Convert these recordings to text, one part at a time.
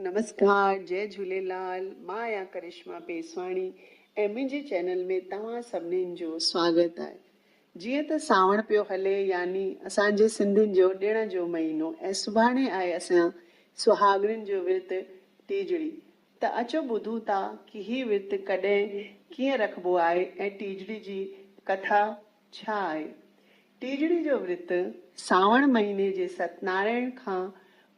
نمسڪار جئي جهوليلال مان آهيان ڪرشما پيسواڻي ۽ منهنجي چينل ۾ توهان سڀنين جو سواگت آهي جيئن ته سانوڻ پيو هلي يعني اسان جي سنڌين جو ڏڻ جو مهينو ۽ سڀاڻي آهي اسان سهاڳڻين جو ورت ٽيجڙي ته اچو ٻڌون ٿا ڪي هي ورت ڪڏهن ڪيئن رکبو آهي ۽ ٽيجڙي جي ڪٿا ڇا آهي ٽيجڙي جو ورت؟ سانوڻ مهيني جي ستنارائڻ کان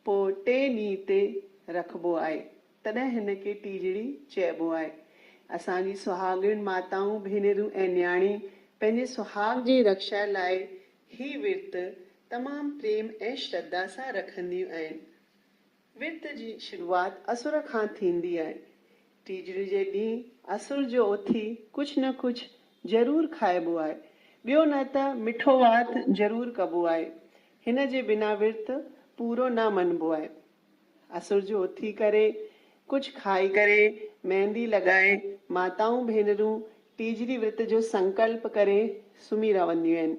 پوء ٽئين ڏينهن تي رکبو آهي، تڏهن هن کي ٽيجڙي چئبو آهي. اسان جي سهاڳڻ ماتائون، ڀينرون ۽ نياڻي پنهنجي سهاڳ جي رڪشا لاء هي ورت تمام پريم ۽ شرڌا سان رکنديون آهن. ورت جي شروعات عصر کان ٿيندي آهي. ٽيجڙي جي ڏينهن عصر جو اٿي ڪجهه نه ڪجهه ضرور کائبو آهي. ٻيو نه ته مٺو وات ضرور ڪبو آهي. هن جي بنا ورت پورو نه مڃبو آهي. عصر جو اٿي ڪري ڪجهه کائي ڪري ميندي لڳائي ماتائون ڀينرون ٽيجڙي ورت جو سنڪلپ ڪري سمهي رهنديون آهن.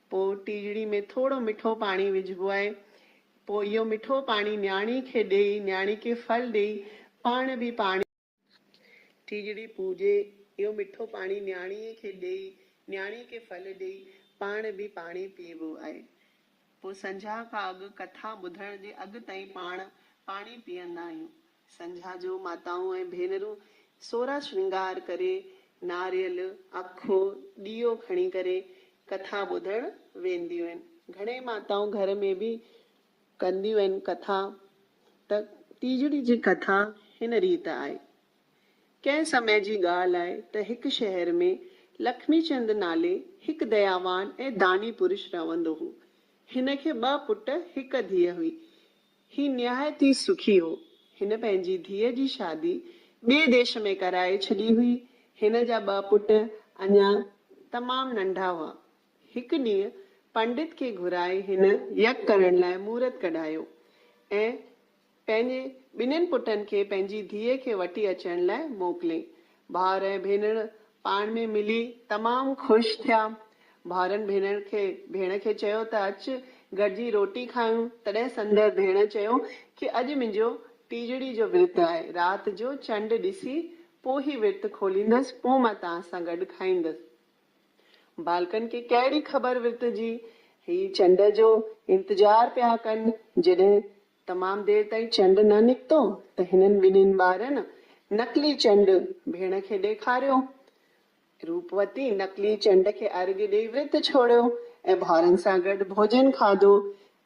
پوء ٽيڄڙي ۾ ٿورو مٺو پاڻي وجهبو آهي. پوء اهو مٺو پاڻي نياڻي کي ڏيئي، نياڻي کي ڦل ڏيئي، پاڻ به پاڻي. ٽيڄڙي پوڄي، اهو مٺو پاڻي نياڻيء کي ڏيئي، نياڻي کي ڦل ڏيئي، پاڻ به پاڻي پيئبو آهي. پوء سنجهاء کان اڳ ڪٿا ٻڌڻ جي اڳ تائين پاڻ پاڻي پيئندا آهيون. سنجها جون ماتائون ۽ ڀينرون سورا شرنگار ڪري، ناريل، اکو، ڏيئو کڻي ڪري ڪٿا ٻڌڻ وينديون آهن. گهڻي ماتائون گهر ۾ به ڪنديون آهن ڪٿا. ته تيجڙي جي ڪٿا هن ريت آهي. ڪنهن سمي جي ڳالهه آهي ته هڪ شهر ۾ لکمي چند نالي هڪ دياوان ۽ داني پرش رهندو هو. هن کي ٻه پٽ هڪ ڌيء هئي. هي نهايت ئي سکي هو. هن پنهنجي ڌيء جي شادي ٻئي ديش ۾ ڪرائي ڇڏي هئي. هن جا ٻه پٽ اڃا تمام ننڍا هئا. هڪ ڏينهن پنڊت کي گهرائي هن يگ ڪرڻ لاء مورت ڪڍايو ۽ پنهنجي ٻنهين پٽن کي پنهنجي ڌيء کي وٺي اچڻ لاء موڪليئين. ڀائر ۽ ڀينڻ پاڻ ۾ ملي تمام خوش ٿيا. ڀائرن ڀينڻ کي ڀيڻ کي چيو ته اچ گڏجي روٽي کائون. تڏهن سندر ڀيڻ چيو ڪي اڄ منهنجو ٽيجڙي جو ورت آهي. رات جو چنڊ ڏسي پو هي ورت کوليندس پو مان توهان سان گڏ کائيندس. ٻالڪن کي ڪهڙي خبر ورت جي. هي چنڊ جو انتظار پيا ڪن جڏهن تمام دير تائين چنڊ نه نڪتو ته هنن ٻنهين ٻارن نقلي چنڊ ڀيڻ کي ڏيکاريو. روپوتي نقلي چنڊ کي ارگهه ڏيئي ورت ڇوڙيو ۽ ڀائرن سان گڏ ڀوڄن کاڌو.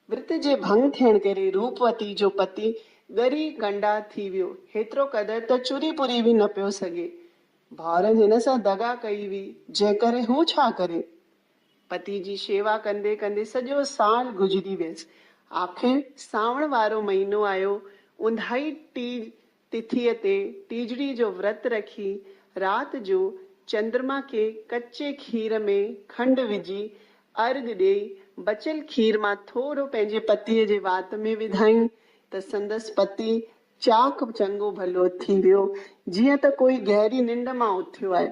ورت جي ڀنگ ٿيڻ ڪري روپوتي جو پتي ڳري ڪنڊا ٿي ويو، هيترو قدر ته چري پوري به نه پيو سگهي. ڀائرن هن سان دغا ڪئي هئي، جنهن ڪري هو ڇا ڪري؟ پتي جي شيوا ڪندي ڪندي سڄو سال گذري ويس. آخر سانوڻ وارو مهينو آيو. اونداهي ٽيج تٿيء تي ٽيجڙي جو ورت رکي، رات جو چندرما کي ڪچي کير ۾ کنڊ وجهي ارغ ڏيئي، بچيل کير مان ٿورو پنهنجي پتيء جي وات ۾ وڌائين ته سندس پتي چاڪ چڱو ڀلو ٿي ويو، جيئن ته ڪوئي گهري ننڊ مان اٿيو آهي.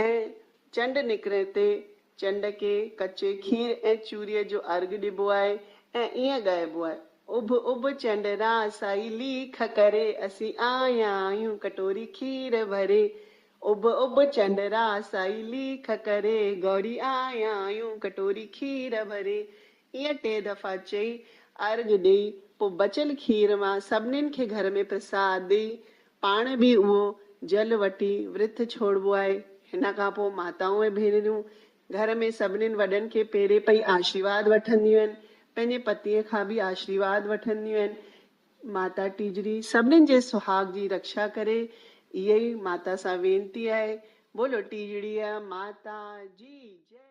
۽ چنڊ نڪرڻ تي چنڊ کي ڪچي کير ۽ چوريء جو ارگهه ڏبو آهي ۽ ائين ڳائبو آهي، اڀ اڀ چنڊ را سائي ليک ڪري، اسين آيا آهيون ڪٽوري کير ڀري. اڀ اڀ چنڊ را سائي ليک ڪري، گوري آيا آهيون ڪٽوري کير ڀري. ايئن ٽي دفعا چئي، ارگهه ڏيئي، پوء بچيل کير مان سڀنين کي گهر ۾ پرساد ڏيئي، پاڻ به اهو جل وٺي ورت ڇوڙبو آهي. هن کان پوء ماتائون ۽ ڀينريون گهر ۾ سڀنين وڏن کي پيري پئي آشيرواد وٺنديون آهن. پنهنجي پتيء کان به آشيرواد وٺنديون آهن. ماتا ٽيجڙي سڀنين جي سهاڳ جي رڪشا ڪري. اهي ئي ماتا سان وينتي آهي. بولو ٽيجڙيء ماتا جي جئي.